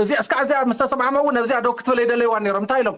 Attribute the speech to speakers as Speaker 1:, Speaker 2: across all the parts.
Speaker 1: እዚኣ እስካዕ እዚኣ ምስ ተሰማዕመዉ ነብዚኣ ዶ ክትብል ኣይደለይዋን ነይሮም እንታይ ኢሎም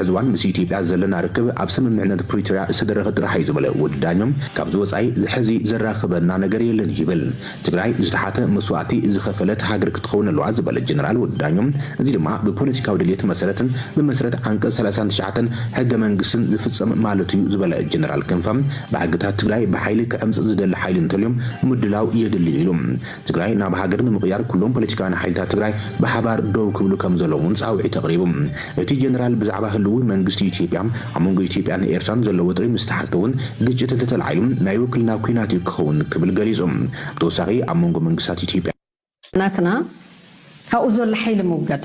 Speaker 2: ሕዚ እዋን ምስ
Speaker 3: ኢትዮጵያ ዘለና ርክብ ኣብ ስምምዕነት ፕሪቶርያ ዝተደረኸ ጥራሕ እዩ ዝብል ወዲ ዳኘው፣ ካብዚ ወፃኢ ሕዚ ዘራኽበና ነገር የለን ይብል። ትግራይ ዝተሓተ መስዋእቲ ዝኸፈለት ሃገር ክትኸውን ኣለዋ ዝበለ ጀነራል ወዲ ዳኘው፣ እዚ ድማ ብፖለቲካዊ ድልየት መሰረት ብመሰረት ዓንቀፅ ሰላሳን ትሽዓተን ሕገ መንግስትን ዝፍፀም ማለት እዩ ዝበለ ጀነራል ክንፈ፣ ባህግታት ትግራይ ብሓይሊ ክዕምፅፅ ዝደሊ ሓይሊ እንተልዮ ምድላው የድሊ ኢሉ። ትግራይ ናብ ሃገር ንምቕያር ኩሎም ፖለቲካውያን ሓይልታት ትግራይ ብሓባር ደው ክብሉ ከምዘለዎም እውን ፃውዒት ኣቕሪቡ። እቲ ጀነራል ብዛዕባ ህልዊ መንግስቲ ኢትዮጵያ ኣብ መንጎ ኢትዮጵያን ኤርትራን ዘሎ ወጥሪ ምስ ተሓተ እውን ግጭት እንተተላዒሉ ናይ ውክልና ኲናት እዩ ክኸውን ክብል ገሊፁ። ብተወሳኺ ኣብ መንጎ መንግስታት ኢትዮጵያ። ናትና
Speaker 4: ካብኡ ዘሎ ሓይሊ ምውጋድ።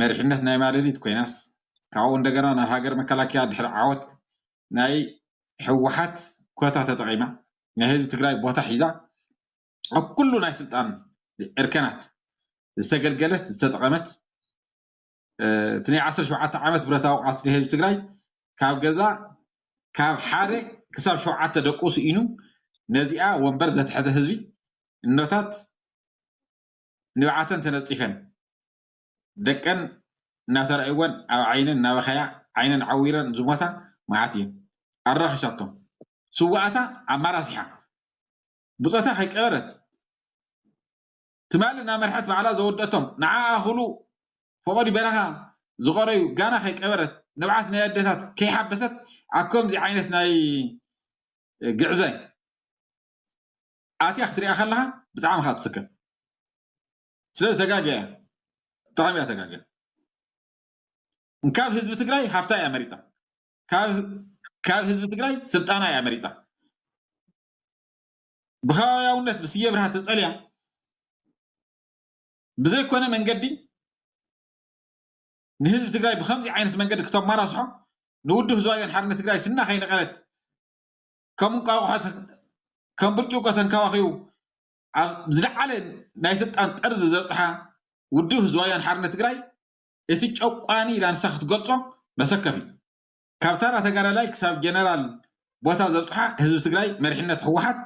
Speaker 5: መሪሕነት ናይ ማለሊት ኮይናስ ካብኡ እንደገና ናብ ሃገር መከላከያ ድሕሪ ዓወት ናይ ህወሓት ኮታ ተጠቒማ ናይ ህዝቢ ትግራይ ቦታ ሒዛ ኣብ ኩሉ ናይ ስልጣን እርከናት ዝተገልገለት ዝተጠቐመት እቲ ናይ ዓሰርተ ሸውዓተ ዓመት ብረታዊ ቃልሲ ናይ ህዝቢ ትግራይ ካብ ገዛ ካብ ሓደ ክሳብ ሸውዓተ ደቁ ስኢኑ ነዚኣ ወንበር ዘትሐዘ ህዝቢ እኖታት ንብዓተን ተነፂፈን ደቀን እናተራእዩወን ኣብ ዓይነን እናበኸያ ዓይነን ዓዊረን ዝሞታ መዓት እየን። ኣራኺሳቶም። ስውኣታ ኣማራሲሓ ብጾታ ከይቀበረት ትማሊ እናመርሐት ባዕላ ዘወድኣቶም ንዓኣ ክብሉ ፈቐዱ በረኻ ዝቐረዩ ጋና ከይቀበረት ንብዓት ናይ ኣደታት ከይሓበሰት ኣብ ከምዚ ዓይነት ናይ ግዕዘ ኣትያ ክትሪኣ ከለኻ ብጣዕሚ እኻ ትስከፍ። ስለዚ ተጋግያ እያ ብጣዕሚ እያ ተጋግያ ካብ ህዝቢ ትግራይ ሃፍታ እያ መሪፃ ካብ ህዝቢ ትግራይ ስልጣና እያ መሪፃ ብከባቢያውነት ብስየ ብርሃ ተፀልያ ብዘይኮነ መንገዲ ንህዝቢ ትግራይ ብከምዚ ዓይነት መንገዲ ክተማራስሖ ንውድብ ህዝባዊ ወያነ ሓርነት ትግራይ ስና ከይነቐለት ከም እንቋቑሖ ከም ብርጭቆ ተንከባኺቡ ኣብ ዝለዓለ ናይ ስልጣን ጠርዚ ዘብጽሓ ውድብ ህዝባዊ ወያነ ሓርነት ትግራይ እቲ ጨቋኒ ኢላ ንሳ ክትገልጾ መሰከፍ እዩ። ካብ ተራ ተጋዳላይ ክሳብ ጀነራል ቦታ ዘብጽሓ ህዝቢ ትግራይ መሪሕነት ህወሓት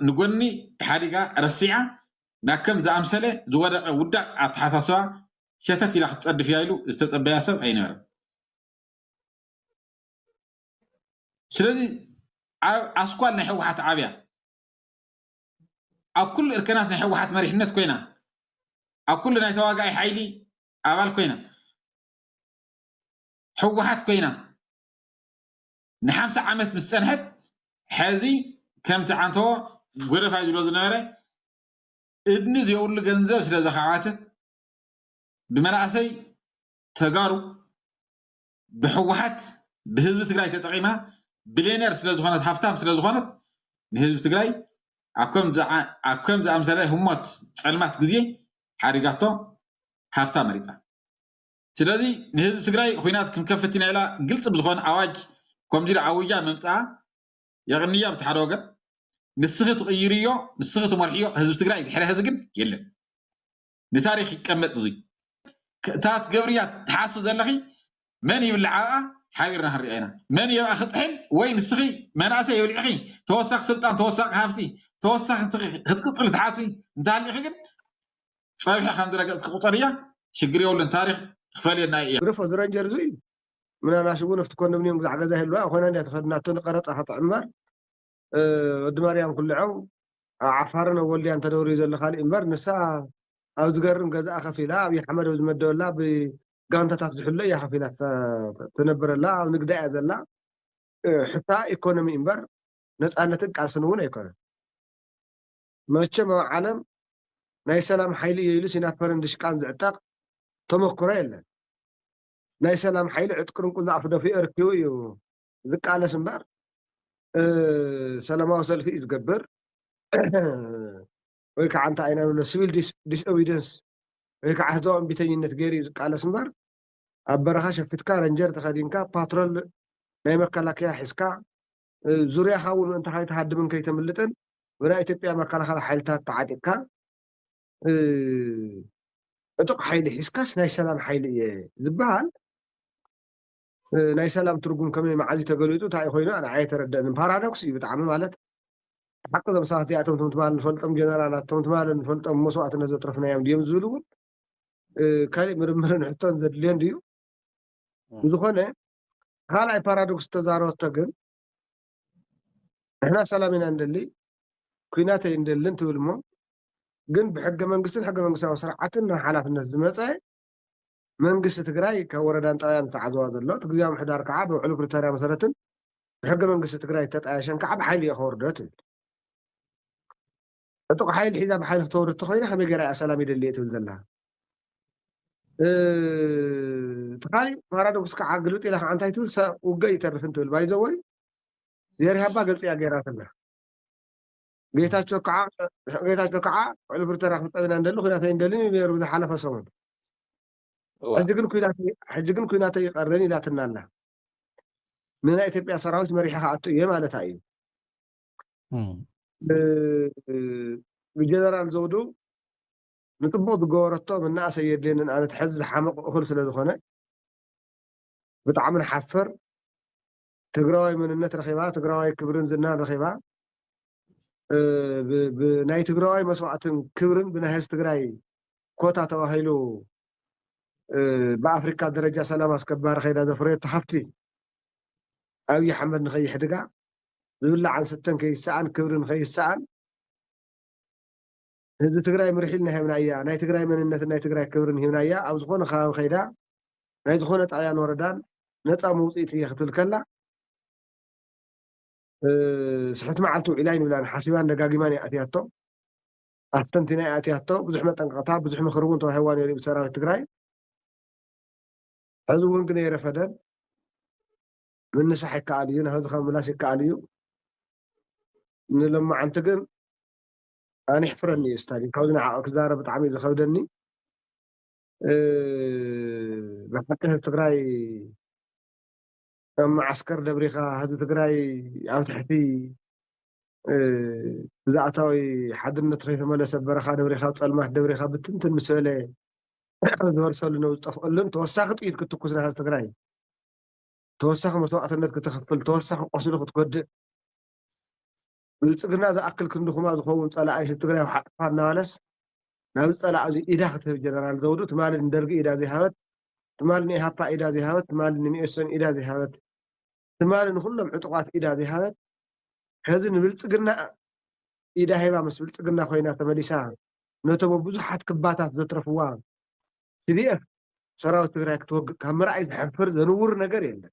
Speaker 5: ንጎኒ ሓዲጋ ረሲዓ ናብ ከም ዝኣምሰለ ዝወደቐ ውዳቕ ኣተሓሳስባ ሸተት ኢላ ክትጸድፍ እያ ኢሉ ዝተጸበያ ሰብ ኣይነበረን። ስለዚ ኣስኳል ናይ ህወሓት ዓብያ ኣብ ኩሉ እርከናት ናይ ህወሓት መሪሕነት ኮይና ኣብ ኩሉ ናይ ተዋጋኢ ሓይሊ ኣባል ኮይና ህወሓት ኮይና ንሓምሳ ዓመት ምስ ፀንሐት ሕዚ ከምቲ ዓንተዎ ጎደፋይ ዝብሎ ዝነበረ እድኒ ዘይብሉ ገንዘብ ስለ ዘኻዕባተት ብመናእሰይ ተጋሩ ብሕወሓት ብህዝቢ ትግራይ ተጠቂማ ብሌነር ስለዝኾነት ሃፍታም ስለዝኾነት ንህዝቢ ትግራይ ኣብ ከም ዝኣምሰለ ህሞት ፀልማት ግዜ ሓዲጋቶ ሃፍታ መሪፃ ስለዚ ንህዝቢ ትግራይ ኹናት ክንከፍት ኢና ኢላ ግልፂ ብዝኾን ኣዋጅ ከምዚ ኢላ ኣዊጃ ምምፅኣ የቕንያ ብቲ ሓደ ወገን ንስኺ ትቕይርዮ ንስኺ ትመርሕዮ ህዝቢ ትግራይ ድሕሪ ሀዚ ግን የለን። ንታሪክ ይቀመጥ እዙይ። እታ ትገብርያ ትሓስቢ ዘለኺ መን ይብልዕ ኣብኣ ሓቢርና ክንሪኣ ኢና መን እዩ ኣብኣ ክጥሕል ወይ ንስኺ መናእሰይ የብሊዕኺ ተወሳኺ ስልጣን ተወሳኺ ሃፍቲ ተወሳኺ ንስኺ ክትቅፅሊ ትሓስቢ እንተሃሊኺ ግን ፀብሒ ከም ዝረገፅኪ ቁፀርያ ሽግር የብሉን ታሪክ ክፈልየና እዩ። ግደፎ እዚ ረንጀር
Speaker 6: እዙይ ምናልባሽ እውን ኣብቲ ኮንዶሚንየም ግዛዕ ገዛ ይህልዋ ኮይና እንድያ ተኸዲናቶ ንቀረፃ ከተዕምር ወዲ ማርያም ኩልዖም ኣብ ዓፋርን ኣብ ወልድያን ተደብርዩ ዘሎ ካሊእ እምበር ንሳ ኣብ ዝገርም ገዝኣ ከፍ ኢላ ኣብይ ኣሕመድ ኣብ ዝመደበላ ብጋንታታት ዝሕሎ እያ ከፍ ኢላ ትነብር ኣላ ኣብ ንግዳ እያ ዘላ ሕታ ኢኮኖሚ እምበር ነፃነትን ቃልስን እውን ኣይኮነን መቸም ኣብ ዓለም ናይ ሰላም ሓይሊ እየ ኢሉ ሲናፐርን ድሽቃን ዝዕጠቕ ተመክሮ የለን ናይ ሰላም ሓይሊ ዕጥቅርን ቁዛዕ ፍደፍኡ ኣርኪቡ እዩ ዝቃለስ እምበር ሰለማዊ ሰልፊ እዩ ዝገብር ወይ ከዓ እንታይ ኢና ንብሎ ስቪል ዲስኦቢደንስ ወይ ከዓ ህዝባዊ እምቢተኝነት ገይሩ እዩ ዝቃለስ እምበር ኣብ በረኻ ሸፊትካ ረንጀር ተኸዲንካ ፓትሮል ናይ መከላከያ ሒዝካ ዙርያኻ እውን ምእንቲ ከይትሃድምን ከይተምልጥን ብናይ ኢትዮጵያ መከላኸሊ ሓይልታት ተዓጢቕካ ዕጡቕ ሓይሊ ሒዝካስ ናይ ሰላም ሓይሊ እየ ዝበሃል ናይ ሰላም ትርጉም ከመይ መዓዝዩ ተገሊጹ እንታዩ ኮይኑ ኣነ ኣየተረደኣንን ፓራዶክስ እዩ ብጣዕሚ ማለት ሓቂ እዞም ሰባት እዚኣቶም እቶም ትማል ንፈልጦም ጀነራላት እቶም ትማል ንፈልጦም መስዋእትነት ዘጥረፍናዮም ድዮም ዝብል እውን ካልእ ምርምርን ሕቶን ዘድልዮ እንድዩ ብዝኾነ ካልኣይ ፓራዶክስ ተዛረበቶ ግን ንሕና ሰላም ኢና እንደሊ ኩናት ኣይንደልን ትብል እሞ ግን ብሕገ መንግስትን ሕገ መንግስታዊ ስርዓትን ናብ ሓላፍነት ዝመፀ መንግስቲ ትግራይ ካብ ወረዳን ጣብያን ዝተዓዘዋ ዘሎ፣ እቲ ግዝያዊ ምምሕዳር ከዓ ብውዕሊ ፕሪቶርያ መሰረትን ብሕገ መንግስቲ ትግራይ ዝተጣየሸን ከዓ ብሓይሊ እየ ከወርዶ ትብል። ዕጡቕ ሓይሊ ሒዛ ብሓይሊ ክተወርድ እንተኾይና ከመይ ገይራ እያ ሰላም ይደሊ እየ ትብል ዘላ? እቲ ካሊእ ፓራዶክስ ከዓ ግልብጥ ኢላ ከዓ እንታይ ትብል ውግእ ይተርፍን ትብል ባይዘወይ ዜሪሃባ ገልፂ እያ ገይራትና። ጌታቸው ከዓ ጌታቸው ከዓ ውዕል ፕሪቶርያ ክንጠብ ኢና እንደሊ ኩናት ኣይንደልን እዩ ነይሩ ዝሓለፈ ሰሙን እወ ሕጂ ግን ኩናት ሕጂ ግን ኩናት ይቀርን ኢላትና ኣላ ንናይ ኢትዮጵያ ሰራዊት መሪሒ ክኣቱ እየ ማለታ እዩ እም፣ ብ- ብጀነራል ዘውዱ ንጥቡቅ ዝገበረቶ መናእሰይ የድልየንን ኣነ ትሕዚ ዝሓመቕ እኹል ስለ ዝኾነ ብጣዕሚ ንሓፍር ትግራዋይ መንነት ረኺባ፣ ትግራዋይ ክብርን ዝናን ረኺባ፣ ብናይ ትግራዋይ መስዋዕትን ክብርን ብናይ ህዝቢ ትግራይ ኮታ ተባሂሉ ብኣፍሪካ ደረጃ ሰላም ኣስከባሪ ከይዳ ዘፍረየቶ ሃፍቲ ኣብዪ ኣሕመድ ንከይሕድጋ ዝብላዕን ስተን ከይሰኣን ክብርን ከይሰኣን ህዝቢ ትግራይ ምርሒ ኢልና ሂብናያ ናይ ትግራይ መንነትን ናይ ትግራይ ክብርን ሂብናያ ኣብ ዝኾነ ከባቢ ከይዳ ናይ ዝኾነ ጣብያን ወረዳን ነፃ መውፅኢት እየ ክትብል ከላ ስሕቲ መዓልቲ ውዒላ ኣይንብላን ሓሲባን ደጋጊማን እያ ኣትያቶ ኣስተንቲና እያ ኣትያቶ ብዙሕ መጠንቀቕታ ብዙሕ ምኽሪ እውን ተዋሂዋ ነይሩ ብሰራዊት ትግራይ ሕዚ እውን ግን የረፈደን ምንሳሕ ይከኣል እዩ ናብ ህዝኻ ምላሽ ይከኣል እዩ ንሎማዓንቲ ግን ኣነ የሕፍረኒ እዩ ስታሊን ካብዚ ንዓቅ ክዛረብ ብጣዕሚ እዩ ዝከብደኒ ብሓቂ ህዝቢ ትግራይ ከም መዓስከር ደብሪካ ህዝቢ ትግራይ ኣብ ትሕቲ ብዛእታዊ ሓድነት ከይተመለሰ በረኻ ደብሪካ ፀልማት ደብሪካ ብትንትን ምስ በለ ዝበርሰሉ ነው ዝጠፍአሉን ተወሳኺ ጥይት ክትኩስ ንሃዝ ትግራይ ተወሳኺ መስዋዕትነት ክትኽፍል ተወሳኺ ቆስሉ ክትጎድእ ብልፅግና ዝኣክል ክንዲ ኩማ ዝኸውን ፀላኢ ህዝቢ ትግራይ ውሓጥፋ እናበለስ ናብዚ ፀላኢ እዙይ ኢዳ ክትህብ ጀነራል ዘውዱ ትማሊ ንደርጊ ኢዳ ዘይሃበት ትማሊ ንኢሃፓ ኢዳ ዘይሃበት ትማሊ ንሚኤሶን ኢዳ ዘይሃበት ትማሊ ንኩሎም ዕጡቋት ኢዳ ዘይሃበት ሕዚ ንብልፅግና ኢዳ ሂባ ምስ ብልፅግና ኮይና ተመሊሳ ነቶም ብዙሓት ክባታት ዘትረፍዋ ትዲኤፍ ሰራዊት ትግራይ ክትወግእ ካብ ምርኣይ ዘሕፍር ዘንውር ነገር የለን።